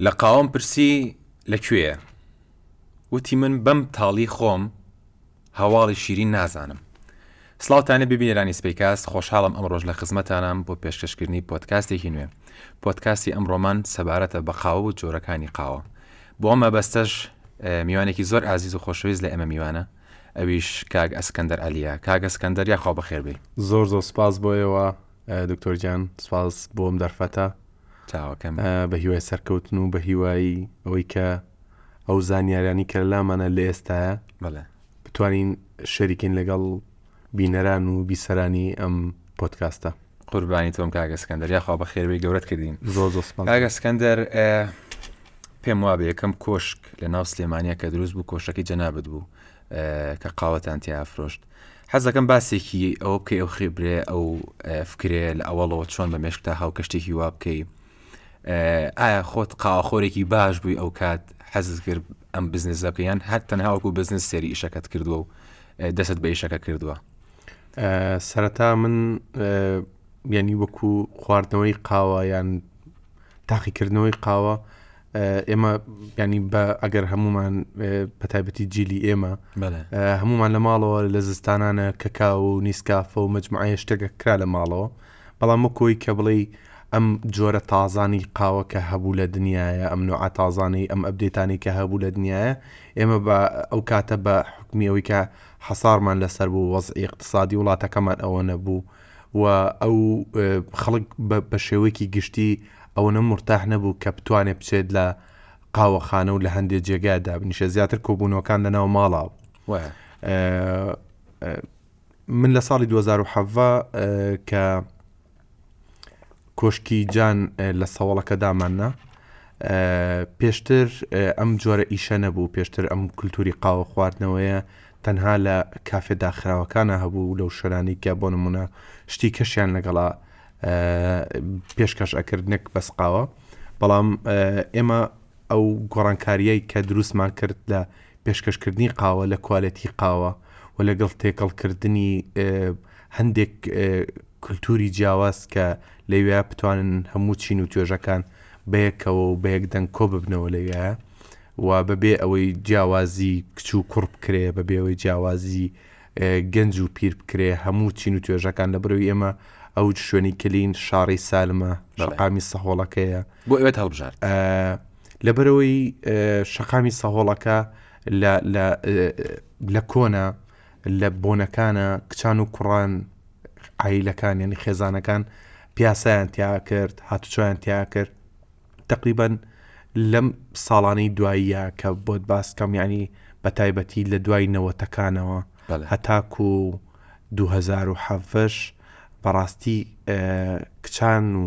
لە قاوەم پرسی لە کوێیە؟ وتی من بەم تاڵی خۆم هەواڵی شیرین نازانم. سڵاوتانێ ببینێرانی سپیکاست خۆشحاڵم ئەم ڕۆژ لە خزمەتانام بۆ پێشکەشکردنی پۆتکاستێکی نوێ پۆتکاستی ئەم ڕۆمان سەبارەتە بە قاوە و جۆرەکانی قاوە بۆ ئەم مەبەستەش میوانێکی زۆر ئازیز و خۆشەویست لە ئێمە میوانە ئەویش کاک ئەسکەندەر عەلیە. کاک ئەسکەندەر یاخوا بەخێر بێی. زۆر زۆر سپاس بۆ ئێوە دکتۆر گیان سپاس بۆ ئەم دەرفەتە چاوەکەم. بە هیوای سەرکەوتن و بە هیوایی ئەوەی کە ئەو زانیاریانی کە لەلامانە لە ئێستایە بەڵێ. بتوانین شەریکین لەگەڵ بینەران و بیسەرانی ئەم پۆتکاستە. قوربانی تۆم کاگە سکەندەر یاخوا بە خێرەوەی گەورەت کردین زۆر زۆر سپاس کاگە سکەندەر پێم وابێ یەکەم کۆشک لە ناو سلێمانە کە دروست بوو کۆشەکەی جەنابەت بوو کە قاوەتان تیا فرۆشت حەزەکەم باسێکی ئەوە بکەی ئەو خێبرێ ئەو فکرێ لە ئەوەڵەوە چۆن بە مێشکتا هاو کەشتێکی وا بکەی ئایا خۆت قاوەخۆرێکی باش بووی ئەو کات حەزت کرد ئەم بزنس بکە یان هەر تەنهاوەکو بزنس سێری ئیشەکەت کردووە و دەست بە ئیشەکە کردووە سەرەتا من یعنی وەکو خواردنەوەی قاوە یان تاقیکردنەوەی قاوە ئێمە ینی بە ئەگەر هەمومان پەتابەتی جیلی ئێمە هەمومان لە ماڵەوە لە زستانانە کەکاو و نیسکافە و مجموعە شتێکە کرا لە ماڵەوە بەڵام وەکوەی کە بڵێی ئەم جۆرە تازانەی قاوە کە هەبوو لە دنیایە، ئەم نوعە تازانەی، ئەم ئەپدەیتانەی کە هەبوو لە دنیایە، ئێمە بە ئەو کاتە بە حوکمی ئەوەی کە حەسارمان لە سەر بوو، وەزعی ئیقتسادی وڵاتەکەمان ئەوە نەبوو و ئەو خەڵک بە بە شێوەیەکی گشتی ئەوەنە مورتاح نەبوو کە بتوانێ بچێت لە قاوەخانە و لە هەندێ جێگا دابنیشێ زیاتر کۆبوونەوەکان لە ناو ماڵا بوو. وایە. من لە ساڵی دوو هەزار و حەڤدە کە کۆشکی جان لە سەوەڵەکە داماننا پێشتر ئەم جۆرە ئیشە نەبوو پێشتر ئەم کولتوری قاوە خواردنەوەیە تەنها لە کافێ داخراوەکانە هەبوو لەو شەرانی کە بۆ نمونە شتی کەشیان لەگەڵا پێشکەش ئەکرد نەک بەسقاوە بەڵام ئێمە ئەو گۆڕانکاریەک کە دروستمان کرد لە پێشکەشکردنی قاوە لە کوالێتی قاوە و لەگەڵ تێکەڵکردنی هەندێک کولتووری جیاواز کە لەوێ بتوانن هەموو چین و توێژەکان بەیەکەوە و بەیەک دەنگ کۆ ببنەوە لەوێ و بەبێ ئەوەی جیاوازی کچ و کوڕ بکرێ بە بێەوەی جیاوازی گەنج و پیر بکرێ هەموو چین و توێژەکان لە برەوی ئێمە ئەو شوێنی کلین شاری سالمە شقامی سەهۆڵەکەیە بۆ ئەوێت هەڵبژارد. لەبەرئەوەی شەقامی سەهۆڵەکە لە کۆنە لە بۆنەکانە کچان و کوڕان ئایلەکان یعنی خێزانەکان پیاسیان تیا کرد هاتوچۆیان تیا کرد تقریبان لەم ساڵانەی دواییە کە بۆت باسکەم ینی بە تایبەتی لە دوای نەوەتەکانەوە هەتاکو و 2010 بەڕاستی کچان و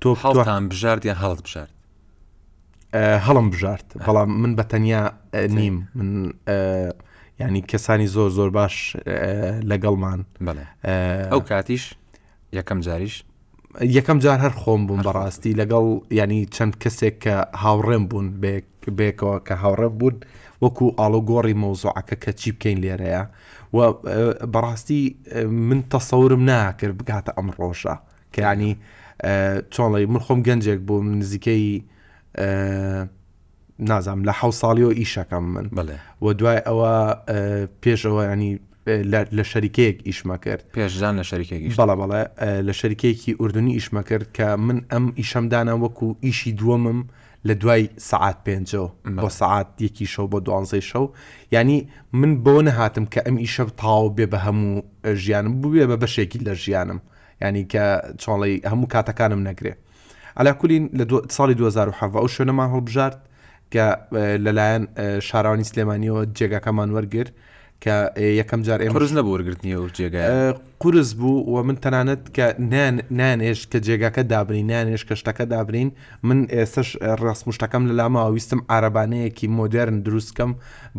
تۆ هەڵتان بژارد یان هەڵت بژارد هەڵم بژارد بەڵام من بە تەنیا نیم من ینی کەسانی زۆر زۆر باش لەگەڵمان ئەو کاتیش یەکەم جاریش یەکەم جار هەر خۆم بووم بەڕاستی لەگەڵ ینی چەند کەسێک کە هاوڕێم بوون بێکەوە کە هاوڕێم بوون وەکو ئاڵۆگۆڕی مەوزوعەکە کە چی بکەین لێرەیە و بەڕاستی من تەسەورم ناکرد بگاتە ئەم ڕۆژە کەیانی چۆڵی من خۆم گەنجێک بووم نزیکەی نازام لە حە ساڵیەوە ئیشەکەم من بڵێ و دوای ئەوە پێشەوە ینی لە شەریکەیەک ئیشمە کرد پێشدان لە شەریکێکی بەڵە بەڵێ لە شەریکێکی ئوردنی ئیشمە کرد کە من ئەم ئیشەمدانە وەکو ئیشی دووەمم لە دوای سعات پێنجەوە بۆ سعات یەکی شەو بۆ دوانزەی شەو ینی من بۆ نەهاتم کە ئەم ئیشە تاو بێ بە هەموو ژیانم بووێ بە بەشێکی لە ژیانم یانی کە چۆڵی هەموو کاتەکانم نەگرێ ئەلا کولین لە ساڵی 2007 ئەو شوێنەمان هەڵبژارد کە لەلایەن شارانی سلێمانیەوە جێگاکەمان وەرگر کە یەکەم جار ئێمەرز نەبوو وەرگرتنی و جێگای قرس بوو و من تەنانەت کە نانێش کە جێگاکە دابنین نانێش کە شتەکە دابنین من ئێستش ڕاستمشتەکەم لە لاما ویستم عربانەیەکی مۆدررن دروستکەم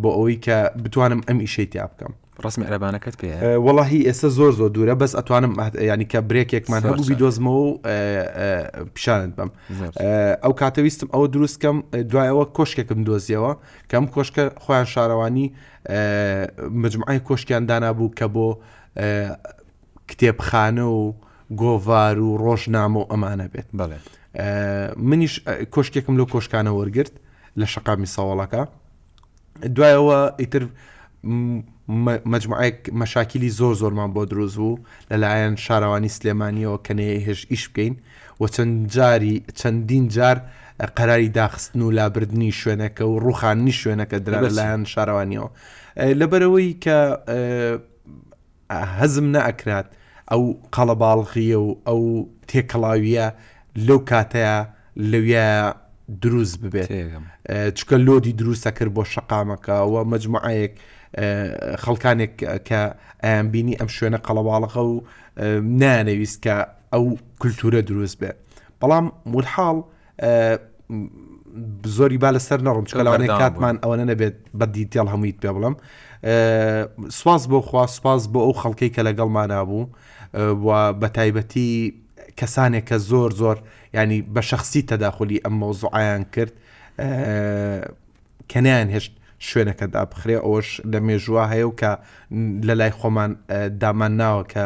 بۆ ئەوەی کە بتوانم ئەم ئیشەی تیا بکەم ڕەسمی عەرەبانەکەت پێ وەڵاهی ئێستا زۆر زۆر دوورە بەس ئەتوانم ینی کە برێکێکمان هەبوو بیدۆزمەوە و پیشانت بم ئەو کاتەویستم ئەوە دروستکەم دوایەوە کۆشکێکم دۆزیەوە کەم کۆشکە خۆیان شارەوانی مجموعی کۆشکیان دانابوو کە بۆ کتێبخانە و گۆڤار و ڕۆژنامە و ئەمانە بێت بەڵێ منیش کۆشکێکم لەو کۆشکانە وەرگرت لە شقامی ساوەڵەکە دوایەوە ئیتر مجموعەیەک مەشاکیلی زۆر زۆرمان بۆ دروست بوو لەلایەن شارەوانی سلێمانیەوە کە نێ هێش ئیش بکەین و چەند جاری چەندین جار قەراری داخستن و لابردنی شوێنەکە و ڕوخاننی شوێنەکە درا لەلایەن شارەوانیەوە لەبەرەوەی کە هەزم نەئەکرات ئەو قەڵەباڵغییە و ئەو تێکەڵاوییە لەو کاتەیا لەویا دروست ببێت تێگەم چکە لۆدی دروستە کرد بۆ شەقامەکە و مجموعەیەک خەڵکانێک کە ئەیان بینی ئەم شوێنە قەڵەواڵەخە و نانەویست کە ئەو کولتورە دروست بێت بەڵام ولحاڵ زۆری با لەسەر نەڕم چکە لەوانەیە کاتمان ئەوەنە نەبێت بە دیتیڵ هەموویت پێ بڵم سواز بۆ خوا سپاس بۆ ئەو خەڵکەی کە لەگەڵمانە بوو بە تایبەتی کەسانێک کە زۆر زۆر ینی بە شخصی تەداخلی ئەم مۆزوعیان کرد کەنیان هێشت شوێنەکەدا بخرێ ئەوش لە مێژووە هەیە و کە لە لای خۆمان دامان ناوە کە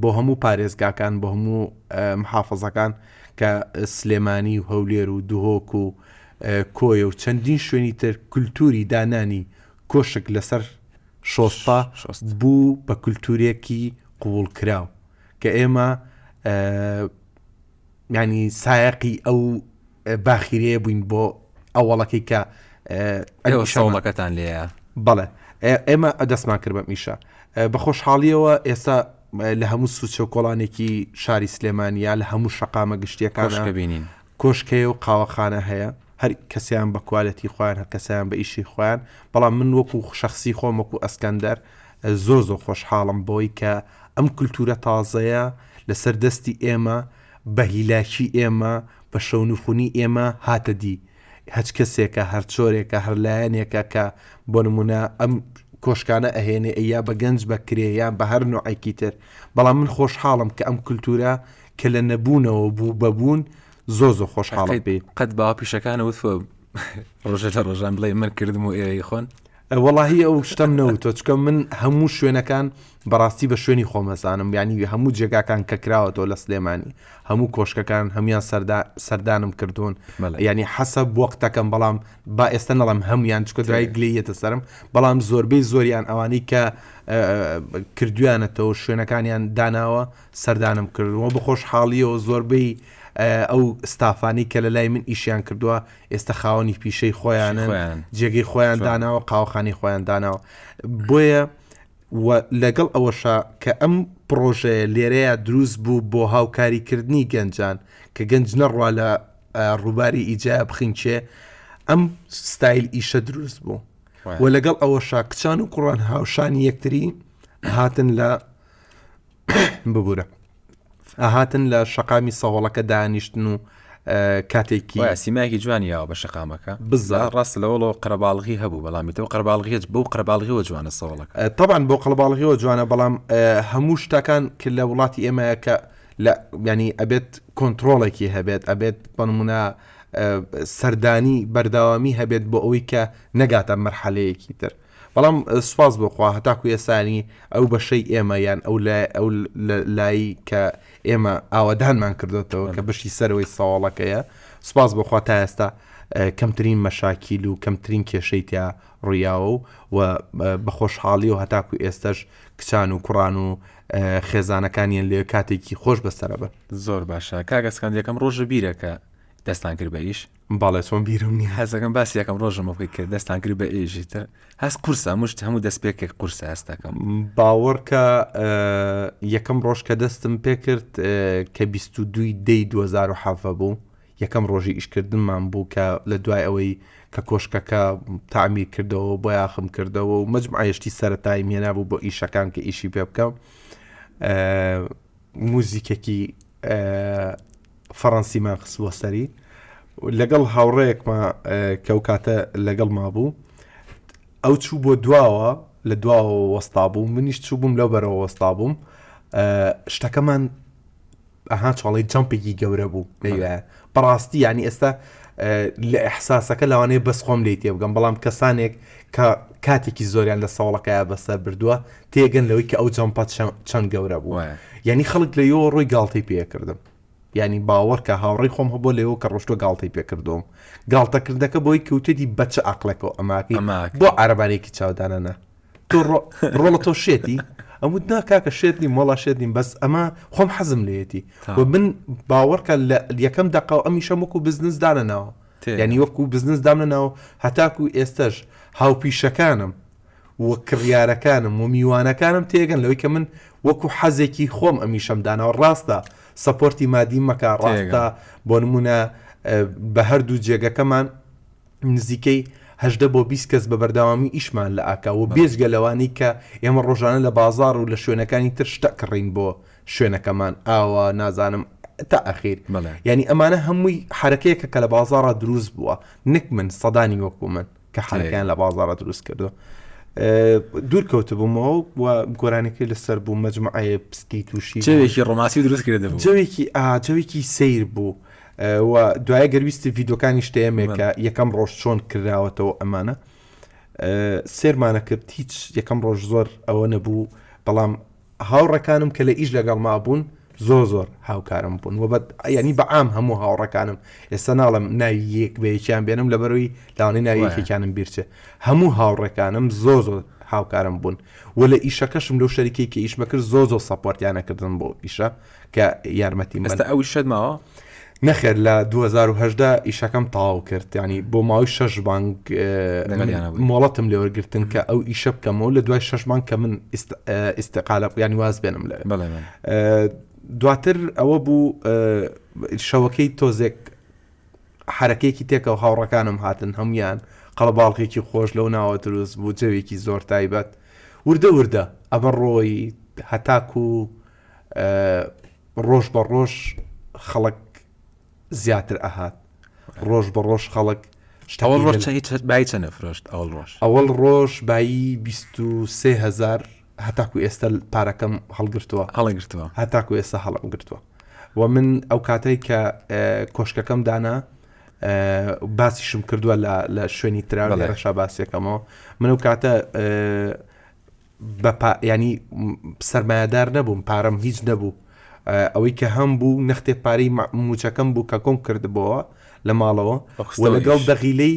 بۆ هەموو پارێزگاکان بۆ هەموو محافەزەکان کە سلێمانی و هەولێر و دهۆک و کۆیە و چەندین شوێنی تر کولتوری دانانی کۆشک لەسەر شۆستە بوو بە کولتورێکی قووڵ کراو کە ئێمە یانی سایەقی ئەو باخیرەیە بووین بۆ ئەوەڵەکەی کە شەوڵەکەتان لێە بەڵێ ئێمە ئەدەستمان کرد بە میشە بە خۆشحاڵیەوە ئێستا لە هەموو سوچە و کۆڵانێکی شاری سلێمانیا لە هەموو شقامە گشتیەکان بینین کۆشکەیە و قاوەخانە هەیە هەر کەسیان بە کوالەتی خۆیان هەر کەسیان بە ئیشی خۆیان بەڵام من وەکو شخصی خۆم وەکو ئەسکەندەر زۆر زۆر خۆشحاڵم بەوەی کە ئەم کلتورە تازەیە لە سەر دەستی ئێمە بە هیلاکی ئێمە بە شەونخونی ئێمە هاتە دی هەچ کەسێکە هەر چۆرێکە هەر لایەنێکە کە بۆ نمونە ئەم کۆشکانە ئەهێنێ ئەی یا بە گەنج بە کرێ یان بە هەر نۆعێکی تر بەڵام من خۆشحاڵم کە ئەم کلتورە کە لە نەبوونەوە بوو بە بوون زۆر زۆر خۆشحاڵم پێی. قەت باوە پیشەکانە وتوە ڕۆژێ لە ڕۆژان بڵێ من کردم و ئێوەی خۆن؟ وەڵاهی ئەو شتەم نەوتوە چکە من هەموو شوێنەکان بەڕاستی بە شوێنی خۆمەزانم ینی هەموو جێگاکان کە کراوەەوە لە سلێمانی هەموو کۆشکەکان هەموان سەردانم کردوون ینی حەسە بۆقتەکەم بەڵام با ئێستا نەڵم هەموان چکە دوای گلەیەتە سرم بەڵام زۆربەی زۆریان ئەوانەی کە کردویانەتەوە شوێنەکانیان داناوە سەردانم کردووە بە خۆشحاڵیەوە زۆربەی ئەو ستافانی کە لە لای من ئیشیان کردووە ئێستا خاوەنی پیشەی خۆیانن جێگەی خۆیان داناوە قاوەخانی خۆیان داناوە بۆیە لەگەڵ ئەوەشا کە ئەم پرۆژەیە لێرەیە دروست بوو بۆ هاوکاریکردنی گەنجان کە گەنج نەڕوا لە ڕووباری ئیجایا بخینچێ ئەم ستایل ئیشە دروست بوو و لەگەڵ ئەوەشا کچان و کوڕان هاوشانی یەکتری هاتن لە ببورە ئاهاتن لە شەقامی سەهۆڵەکە دانیشتن و کاتێکی سیمایکی جوان یاوە بە شقامەکە بزا ڕاست لەوەڵەوە قەرباڵغی هەبوو بەڵامی تەوە قەرباڵغێت بەو قەرباڵغیەوە جوانە سەوڵەکە تاوان بۆ قەڵباڵغیەوە جوانە بەڵام هەموو شتەکان کرد لە وڵاتی ئێمەیە کە لە ینی ئەبێت کۆنتترۆڵێکی هەبێت ئەبێت بەنمونە سەردانی بەرداوامی هەبێت بۆ ئەوەی کە نەگاتە مەرحەلەیەکی تر بەڵام سوپاس بۆ خوا هەتاکو ئێستا یانی ئەو بەشەی ئێمە یان ئەو ئەو لایی کە ئێمە ئاوەدانمان کردۆتەوە کە بەشی سەرەوەی سەواڵەکەیە سوپاس بۆ خوا تا ئێستا کەمترین مەشاکیل و کەمترین کێشەی تیا ڕویاوە و و بەخۆشحاڵی و هەتاکو ئێستش کچان و کوڕان و خێزانەکانیان لێ کاتێکی خۆش بەسەرە بن زۆر باشە کاگەسکاندەکەم ڕۆژە بیرەکە دەستان کرد بە ئیش؟ بەڵێ چۆن بیرم نیە. حەز دەکەم باسی یەکەم ڕۆژمە بکەی کە دەستان کرد بە ئێژی تر هەست قورسە مشت هەموو دەست پێکێک قورسە هەستەکەم باوەڕکە یەکەم ڕۆژ کە دەستم پێکرد کە 22 دەی 2010 بوو یەکەم ڕۆژی ئیشکردنمان بوو کە لە دوای ئەوەی کە کۆشکەکە تامی کردەوە بۆ یاخم کردەوە و مەجمعایشتی سەرەتای مێنابوو بۆ ئیشەکان کە ئیشی پێ بکەم موزیکێکی فەڕەنسیمان خستووە سەری لەگەڵ هاوڕەیەکمە کە و کاتە لەگەڵ ما بوو ئەو چوو بۆ دواوە لە دواوە وەستا بوو منیش چوو بووم لەو بەرەوە وەستا بووم شتەکەمان ئەها چاڵی جەمپێکی گەورە بوو لەوێ بەڕاستی یانی ئێستا لە ئەحساسەکە لەوانەیە بەس خۆم لی تێبگەم بەڵام کەسانێک کە کاتێکی زۆریان لە ساوڵەکەیا بەسەر بردووە تێگەن لەوەی کە ئەو جەمپە چەند گەورە بووە یعنی خەڵک لە یۆ ڕۆی گاڵتەی پێکردم ینی باوەڕکە هاوڕی خۆم هەبوو لەوە کە ڕۆشتۆ گاڵتەی پێکردوم گاڵتەکردەکە بۆی کەوتێتی بەچە ئەقلەکە ئەماکەی بۆ عربانێکی چاودانەنا تۆ ڕۆ ڕۆڵە تۆ شێتی ئەم وت نا کاکە شێت نیم وەڵا شێت نیم بەس ئەمە خۆم حەزم لێتی تا. و من باوەڕکە لە یەکەم دەقە و ئەمیشەم وەکو بزنس دانەناوە تێ یانی وەکو بزنس دامنەناوە هەتاکو ئێستەش هاوپیشەکانم و کڕیارەکانم و میوانەکانم تێگەن لەوەی کە من وەکو حەزێکی خۆم ئەمیشەم داناوە ڕاستە سەپۆرتی مادیم مەکە ڕاستە تێگەن. بۆ نمونە بە هەردوو جێگەکەمان نزیکەی هەژدە بۆ بیست کەس بە بەردەوامی ئیشمان لە ئاکا و بێجگە لەوانەی کە ئێمە ڕۆژانە لە بازاڕ و لە شوێنەکانی تر شتە کڕین بۆ شوێنەکەمان ئاوە نازانم تا ئەخیر یانی ئەمانە هەمووی حرەکەیەکە کە لە بازاڕا دروست بووە نەک من سەدانی وەکو من کە حرەکەیان لە بازاڕە دروست کردو دوور کەوتبوومەوە و گۆرانەکەی لەسەر بوو مەجمعەیە پستی تووشی جەوێکی ڕۆماسی دروست کرد جەوێکی ئاجەوێکی سیر بوو وە دوایە گەر ویستی ڤیدۆکانی شتێمێک کە یەکەم ڕۆژ چۆن کراوەتەوە ئەمانە سێرمانە کرد هیچ یەکەم ڕۆژ زۆر ئەوە نەبوو بەڵام هاوڕەکانم کە لە ئیش لەگەڵ ما بوون زۆر زۆر هاوکارم بوون و بە ینی بەعام هەموو هاوڕەکانم ئێستا ناڵم ناوی یەک بەیەکیان بێنم لەبەرەوەی لاوانەی ناویەکێکیانم بیرچێ هەموو هاوڕەکانم زۆر زۆر هاوکارم بوون و لە ئیشەکەشم لەو شەریکەی کە ئیشمە کرد زۆ زۆ سەپۆرتیانە کردن بۆ ئیشە کە یارمەتیم بدەن. ئێستا ئەو ئیشەت ماوە؟ نەخێر لە دوو هەزار و هەژدە ئیشەکەم تەواو کرد، یانی بۆ ماوەی شەش مانگ لەگەڵیانە بووی. مۆڵەتم لێ وەرگرتن کە ئەو ئیشە بکەمەوە لە دوای شەش مانگ کە من ئیست ئیستیقالە بکەم یانی واز بێنم لەوێ. بەڵێ بەڵێ. دواتر ئەوە بوو شەوەکەی تۆزێک حەرەکەیەکی تێکەوە هاوڕەکانم هاتن هەموان قەڵەباڵغێکی خۆش لەو ناوە دروست بوو جەوێکی زۆر تایبەت وردە وردە ئەمە ڕۆیی هەتاکوو ڕۆژ بە ڕۆژ خەڵک زیاتر ئەهات ڕۆژ بە ڕۆژ خەڵک شتەوە ڕۆژ بای چەنە فرۆشت ئەوڵ ڕۆژ ئەوەڵ ڕۆژ بایی 23هزار هەتاکو ئێستا پارەکەم هەڵگرتووە هەڵگرتووە هەتاکو ئێستا هەڵم گرتووە و من ئەو کاتەی کە کۆشکەکەم دانا باسیشم کردووە لە شوێنی تراوە لە ڕەشا باسیەکەمەوە من ئەو کاتە بە پا یانی سەرمایەدار نەبووم پارەم هیچ نەبوو ئەوەی کە هەم بوو نەختێ پارەی موچەکەم بوو کە کۆم کردبەوە لە ماڵەوە لەگەڵ دەغیلەی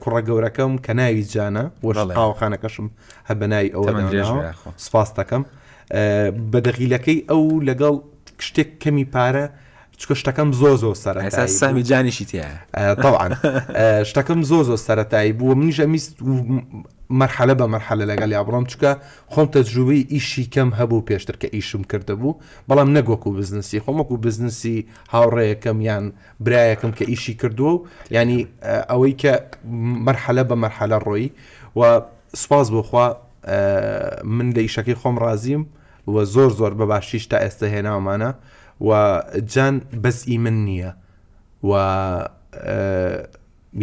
کوڕە گەورەکەم کە ناوی جانە وەشقاوەخانەکەشم هە بە ناوی ئەوە سپاس دەکەم بە دەغیلەکەی ئەو لەگەڵ شتێک کەمی پارە چکە شتەکەم زۆ زۆ سەرەتا سامی جانیشی تێوان شتەکەم زۆ زۆ سەتایی بووە منیش ئەمیست مەرحەلە بە مەرحەلە لەگەڵ یا بڕۆم چکە خۆم تەجروبی ئیشی کەم هەبوو پێشتر کە ئیشم کردبوو بەڵام نەگۆک و بزنسی خۆمەک و بزنسی هاوڕێیەکەم یان برایەکەم کە ئیشی کردووە و ینی ئەوەی کە مەرحەلە بە مەرحەلە ڕۆی و سپاس بۆخوا من لە ئیشەکەی خۆم ڕازیم و زۆر زۆر بەباشیش تا ئێستە هێناومانە و جان بەس ئی من نییە و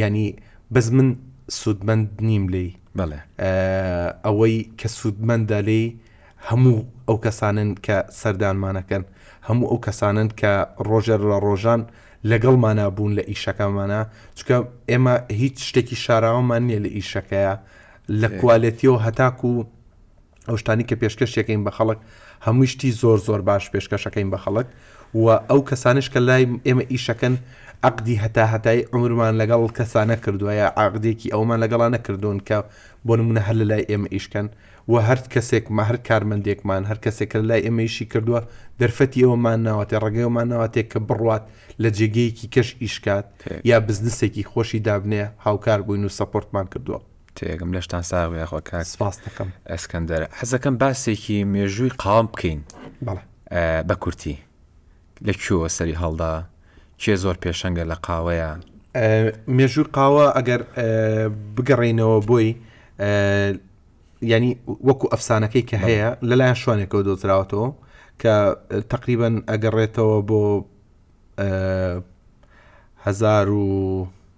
ینی بەس من سوودمەند نیم لی بەڵێ ئەوەی کە سوودمەندە لی هەموو ئەو کەسانن کە سەردانمانەکەن هەموو ئەو کەسانن کە ڕۆژێر لە ڕۆژان لەگەڵ مانابوون لە ئیشەکەمانە چکە ئێمە هیچ شتێکی شاراوەمان نییە لە ئیشەکەیە لە کوالێتیەوە هەتاکو ئەو شتانی کە پێشکەشتەکەین بە خەڵک هەمووی شتی زۆر زۆر باش پێشکەشەکەین بە خەڵک و ئەو کەسانش کە لای ئێمە ئیشەکەن عقدی هەتا هەتای عمرمان لەگەڵ کەسانە کردوایە عقدێکی ئەومان لەگەڵا نەکردوون کە بۆ نمونە هەر لە لای ئێمە ئیشکەن و هەر کەسێکمە هەر کارمەندێکمان هەر کەسێک کە لای ئێمەیشی کردووە دەرفەتی ئەومان ناوەتێ ڕێگەیەمان ناوەتێک کە بڕوات لە جێگەیەکی کەش ئیشکات یا بزنسێکی خۆشی دابنێ هاوکار بووین و سەپۆرتمان کردووە. تێگەم لەشتان ساغ بێ یاخوا کاک سپاس دەکەم ئەسکەندەر حەزەکەم باسێکی مێژووی قاوم بکەین بەڵێ ئە، بە کورتی لە کوێوە سەری هەڵدا کێ زۆر پێشەنگە لە قاوەیە ئە، مێژووی قاوە ئەگەر ئە، بگەڕێینەوە بۆی ئە، یانی وەکو ئەفسانەکەی کە هەیە لەلایەن شوانێکەوە دۆزراوەتەوە کە تقریبا ئەگەڕێتەوە بۆ ئە، هەزار و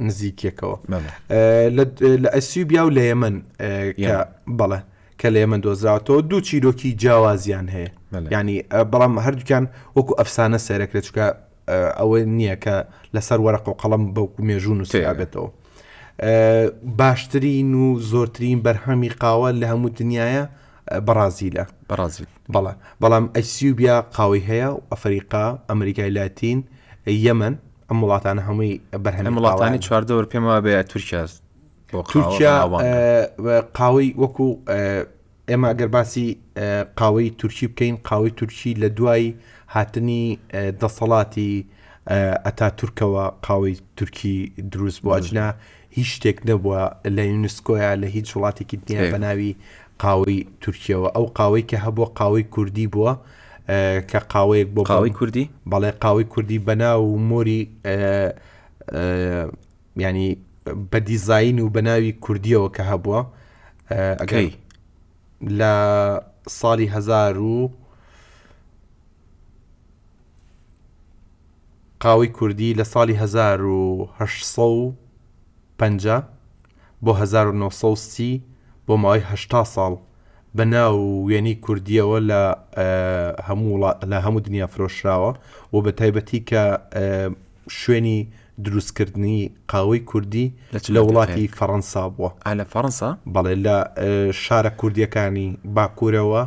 نزیکیەکەوە لە ئەسیوبیا و لە یەمن بەڵێ کە لە ئێمە دۆزراوەتەوە دوو چیرۆکی جیاوازیان هەیە ینی بەڵام هەردووکیان وەکو ئەفسانە سەرەکرێت چکە ئەوەی نییە کە لەسەر وەرە قۆقەڵم بەوکو مێژوو نووسیابێتەوە باشترین و زۆرترین بەرهەمی قاوە لە هەموو دنیاە بەڕازیلە بەڕازیل بەڵە بەڵام ئەسیوبیا قاوەی هەیە و ئەفریقا ئەمریکای لاتین یەمن ئەم وڵاتانە هەمووی بەرهەم وڵاتانی چواردەور پێم وابێ تورکیا تورکیا قاوەی وەکو ئێمە ئەگەر باسی قاوەی تورکی بکەین قاوەی تورکی لە دوای هاتنی دەسەڵاتی ئەتا تورکەوە قاوەی تورکی دروست بۆ ئەجنا هیچ شتێک نەبووە لە یونسکۆیە لە هیچ وڵاتێکی دنیا بە ناوی قاوەی تورکیەوە ئەو قاوەی کە هەبووە قاوەی کوردی بووە کە قاوەیەک بۆ قاوەی کوردی بەڵێ قاوەی کوردی بەناو و مۆری ینی بە دیزین و بەناوی کوردیەوە کە هەبووە ئەگەی لە ساڵی هزار و قاوەی کوردی لە ساڵی هەزار و هەشت سەد و پەنجا بۆ هەزار و نۆ سەد و سی بۆ ماوەی هەشتا ساڵ بە ناو و وێنەی کوردییەوە لە هەموو وڵات لە هەموو دنیا فرۆشراوە و بە تایبەتی کە شوێنی دروستکردنی قاوەی کوردی لە چ لە مەنتیقەیەک؟ وڵاتی فەڕەنسا بووە. ئا لە فەڕەنسا؟ بەڵێ لە شارە کوردییەکانی باکوورەوە.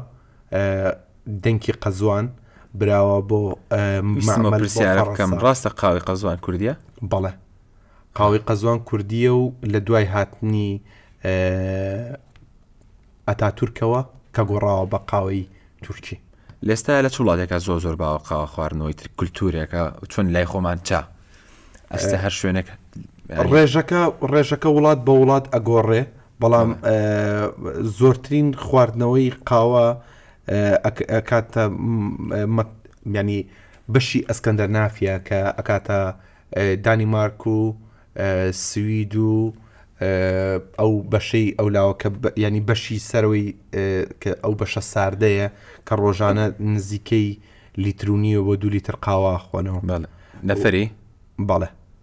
دەنکی قەزوان براوە بۆ بکەم ڕاستە قاوی قەزوان کوردیە بەڵێ قاوی قەزوان کوردیە و لە دوای هاتنی ئەتا تورکەوە کە گۆڕاوە بە قاوەی تورکی لێستا لە چوڵاتێکە زۆ زۆر باوە قاوە خواردنەوەی تر کولتورێکە چۆن لای خۆمان چا ئەستە هەر شوێنێک ڕێژەکە ڕێژەکە وڵات بە وڵات ئەگۆڕێ بەڵام زۆرترین خواردنەوەی قاوە ئەکاتە ینی بەشی ئەسکەندەر نافە کە ئەکاتە دانیمارک و سوید و ئەو بەشەی ئەو لاوەکە ینی بەشی سەرەوەی کە ئەو بەشە ساردەیە کە ڕۆژانە نزیکەی لیترونیەوە دوو لیتر قاواخۆنەوە نەفری بەڵێ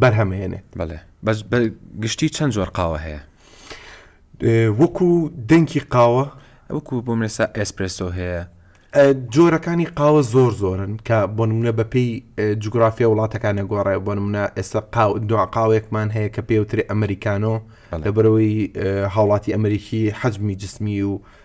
بەرهەمهێنێت بەێ بەس بە گشتی چەند زۆر قاوە هەیە وەکو دەنکی قاوە وەکو بۆ منێسا ئێسپرسۆ هەیە جۆرەکانی قاوە زۆر زۆرن کە بۆ نمونە بەپێی جوگرافیا وڵاتەکانە گۆڕێ بۆ نمونە ئێستا قاو دو قاوێکمان هەیە کە پێوتری ئەمریکانۆ لەبەرەوەی هاوڵاتی ئەمریکی حەجمی جسمی و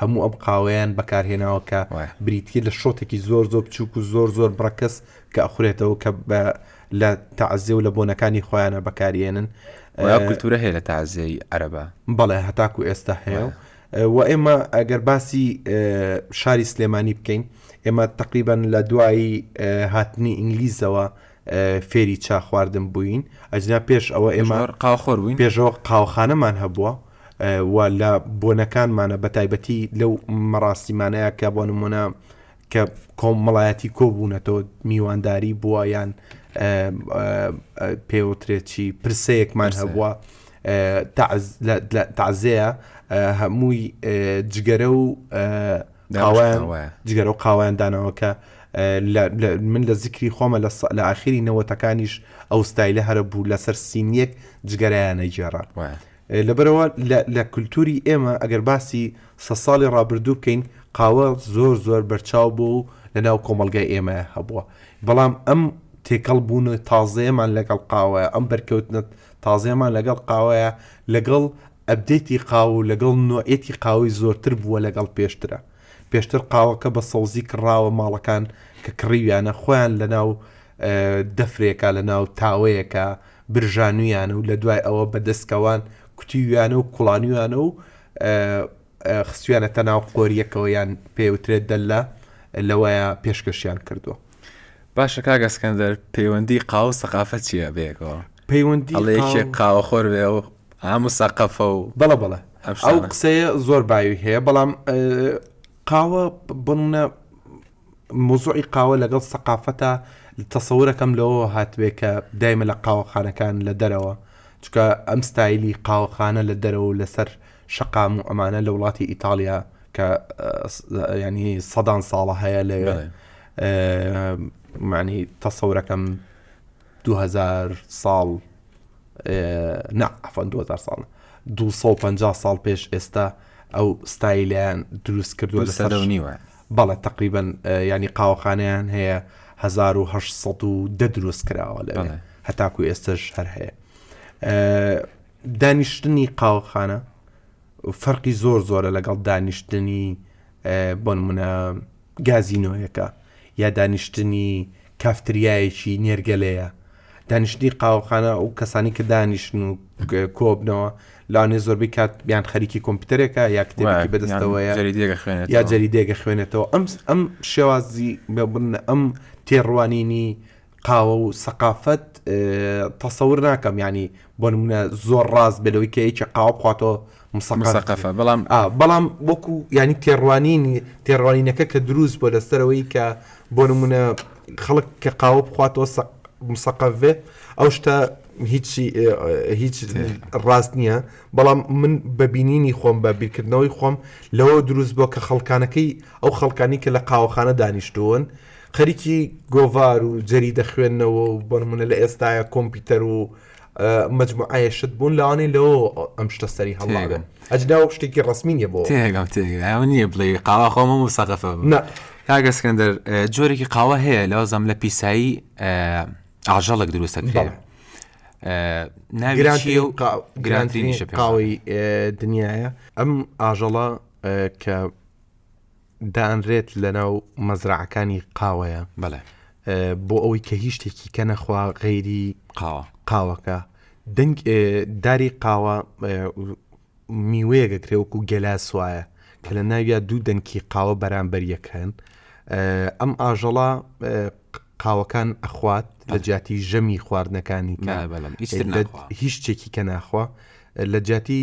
هەموو ئەم قاوەیان بەکارهێناوە کە بریتیە لە شۆتێکی زۆر زۆر بچووک و زۆر زۆر بڕەکەس کە ئەخورێتەوە کە لە تازێ و لە بۆنەکانی خۆیانە بەکارێنن کللتورە هەیە لە تازێی عەربە بەڵێ هەتاکو ئێستا هەیە و و ئێمە ئەگەر باسی شاری سلێمانی بکەین ئێمە تقریبان لە دوایی هاتنی ئینگلیزەوە فێری چا خواردن بووین ئەجنا پێش ئەوە ئێمە قاخۆر بووین پێشەوە قاوخانەمان هەبووە و لە بۆنەکانمانە بەتایبەتی لەو مەراسیمانەیە کە بۆ نمونە کە کۆمەڵایەتی کۆبوونەتەوە میوانداری بووە یان پێوترێکی پرسەیەکمان هەبووە تازەیە هەمووی جگەرە و جگەرە و قاوایان داناوەکە من لە زیکری خۆمە لە ئاخری نەوەتەکانیش ئەو ستایلە هەرە بوو لەسەر سینیەک جگەرەیانە گێڕە لەبەرئەوە لە لە کولتووری ئێمە ئەگەر باسی سەد ساڵی ڕابردوو بکەین قاوە زۆر زۆر بەرچاو بوو و لەناو کۆمەڵگای ئێمە هەبووە بەڵام ئەم تێکەڵ بوون و تازەیەمان لەگەڵ قاوەیە ئەم بەرکەوتنە تازەیەمان لەگەڵ قاوەیە لەگەڵ ئەبدەیتی قاوە و لەگەڵ نۆعێتی قاوەی زۆرتر بووە لەگەڵ پێشترە پێشتر قاوەکە بە سەوزی کڕاوە ماڵەکان کە کڕیویانە خۆیان لەناو دەفرێکە لەناو تاوەیەکە برژانویانە و لە دوای ئەوە بە دەسکەوان کوتیویانە و کوڵانویانە و خستویانەتە ناو قۆریەکەوە یان پێوترێت دەلە لەوەیە پێشکەشیان کردووە باشە کاگەسکەندەر پەیوەندی قاو سەقافە چییە بێکەوە پەیوەندی لەیەکێک قاوە خۆر بێ و ئام و سەقەفە و بەڵە بەڵە ئەو قسەیە زۆر باوی هەیە بەڵام قاوە بنە مەوزوعی قاوە لەگەڵ سەقافەتە تەسەورەکەم لەوەوە هاتبێ کە دایمە لە قاوەخانەکان لە دەرەوە چکە ئەم ستایلی قاوەخانە لە دەرەوە لەسەر شەقام و ئەمانە لە وڵاتی ئیتالیا کە ینی سەدان ساڵە هەیە لە معنی تەسەورەکەم دوو هەزار ساڵ نا عفوا دوو هەزار ساڵ دوو سەد و پەنجا ساڵ پێش ئێستا ئەو ستایلیان دروست کردووە دوو لە سەدە و سەر نیوە بەڵێ تقریبن ینی قاوەخانیان هەیە 1970 دروست کراوە لەوێ بەڵێ. هەتاکو ئێستش هەر هەیە ئە، دانیشتنی قاوەخانە فەرقی زۆر زۆرە لەگەڵ دانیشتنی ئە، بۆ نمونە گازینۆیەکە یا دانیشتنی کافتریایەکی نێرگەلەیە، دانیشتنی قاوەخانە و کەسانی کە دانیشن و کۆبنەوە لەوانێ زۆربەی کات یان خەریکی کۆمپیوتەرێکە یا کتێبێکی بەدەستەوەیە یا جەریدێکە خوێنێتەوە ئەم ئەم شێوازی بە بن ئەم تێڕوانینی قاوە و سەقافەت تەسەور ناکەم یعنی بۆ نمونە زۆر ڕاست بێ لەوەی کە یەکێ قاوە بخواتەوە مسەقەفە بەڵام بەڵام وەکو ینی تێڕوانینی تێڕوانینەکە کە دروست بۆ لەسەرەوەی کە بۆ نمونە خەڵک کە قاوە بخواتەوە مسەقەڤێ ئەو شتە هیچی هیچ ڕاست نییە بەڵام من بەبینینی خۆم بە بیرکردنەوەی خۆم لەوە دروست بۆ کە خەڵکانەکەی ئەو خەڵکانی کە لە قاوەخانە دانیشتوون خەریکی گۆڤار و جەریدە خوێندنەوە و بۆ نموونە لە ئێستایا کۆمپیوتەر و مجموعەیە شت بوون لەوانەی لەوە ئەم شتە سەری هەڵاگەن ئەجدا و شتێکی ڕسمی نیە بۆ تێگەم تێگە نییە بڵێ قاوا خۆمە و سەقەفە کاگەسکەندەر جۆرێکی قاوە هەیە لەو زەم لە پیسایی ئاژەڵک دروستە کرێن ناویرانشی و گرانترینیشە قاوەی دنیاە ئەم ئاژەڵە کە دانرێت لە ناو مەزرعەکانی قاوەیە بەڵێ بۆ ئەوەی کە هیچ شتێکی کە نەخوا غەیری قاوە قاوەکە دەنگ داری قاوە میوەیەگە کرێوەک و گەلا سوایە کە لە ناویا دوو دەنکی قاوە بەرامبەر یەکەن ئەم ئاژەڵە قاوەکان ئەخوات لە جیاتی ژەمی خواردنەکانی هیچ شتێکی کە ناخوا لە جیاتی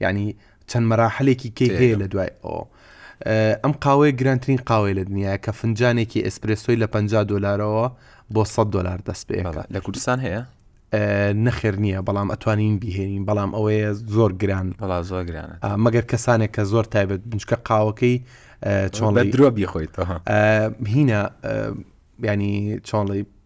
یانی چەند مەراحلێکی کەی هەیە لە دوای ئەو ئەم قاوەیە گرانترین قاوەی لە دنیاە کە فنجانێکی ئسپرسۆی لە 50 دلارەوە بۆ 100 دلار دەست پێ لە کوردستان هەیە نەخێر نییە بەڵام ئەتوانین بهێنین بەڵام ئەوەیە زۆر گران بەڵا زۆر گرانە مەگەر کەسانێک کە زۆر تایبەت بنچکە قاوەکەی چۆن لە درۆ بیخۆیتەوە هینە ینی چۆنڵی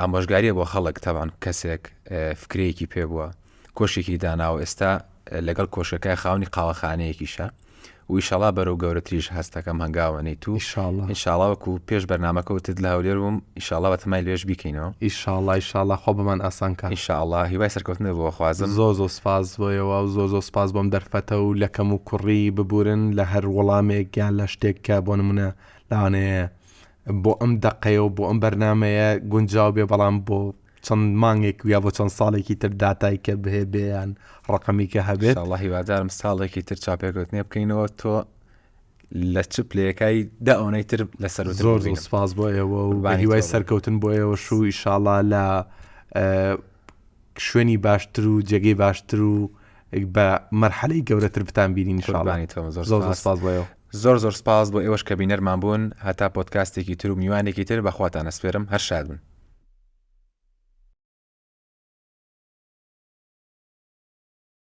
ئامۆژگاریە بۆ خەڵک تەبعەن کەسێک فکرەیەکی پێ بووە کۆشکێکی داناوە ئێستا لەگەڵ کۆشکەکە خاونی قاوەخانەیەکیشە و ئیشەڵا بەرەو گەورەتریش هەستەکەم هەنگاوە نەیت و ئیشاڵڵا ئینشاڵا وەکو پێش بەرنمەکە وتت لە هەولێر بووم ئیشاڵا بە تەمای لێش بیکەینەوە ئیشاڵڵا ئیشاڵڵا خوا بۆمان ئاسان کا ئینشاڵڵا هیوای سەرکەوتنت بۆ خوازم. زۆر زۆر سپاس بۆ ئێوە و زۆر زۆر سپاس بۆم دەرفەتە و لە کەموکوڕی ببورن لە هەر وەڵامێک یان لە شتێک کە بۆ نموونە لەوانەیە بۆ ئەم دەقەیە و بۆ ئەم بەرنامەیە گونجاو بێ بەڵام بۆ چەند مانگێک ویا بۆ چەند ساڵێکی تر داتای کە بهێ بێیان ڕقمی کە هەبێت الله هیوادارم ساڵێکی تر چاپێکوتنێ بکەینەوە تۆ لە چ پلەکای دا ئەوەی تر لەسەر زۆر زۆر سپاس بۆ ئێوە و بە هیوای سەرکەوتن بۆ ئێوە شو ئیشاڵا لە شوێنی باشتر و جێگەی باشتر و بە مەرحەلەی گەورەتر بتان بینین شڵانی تۆ زۆر سپاس بۆ زۆر زۆر سپاس بۆ ئێوەش کە بینەرمان بوون هەتا پۆدکاستێکی تر و میوانێکی تر بە خواتان ئەسپێرم هەر شاد بن.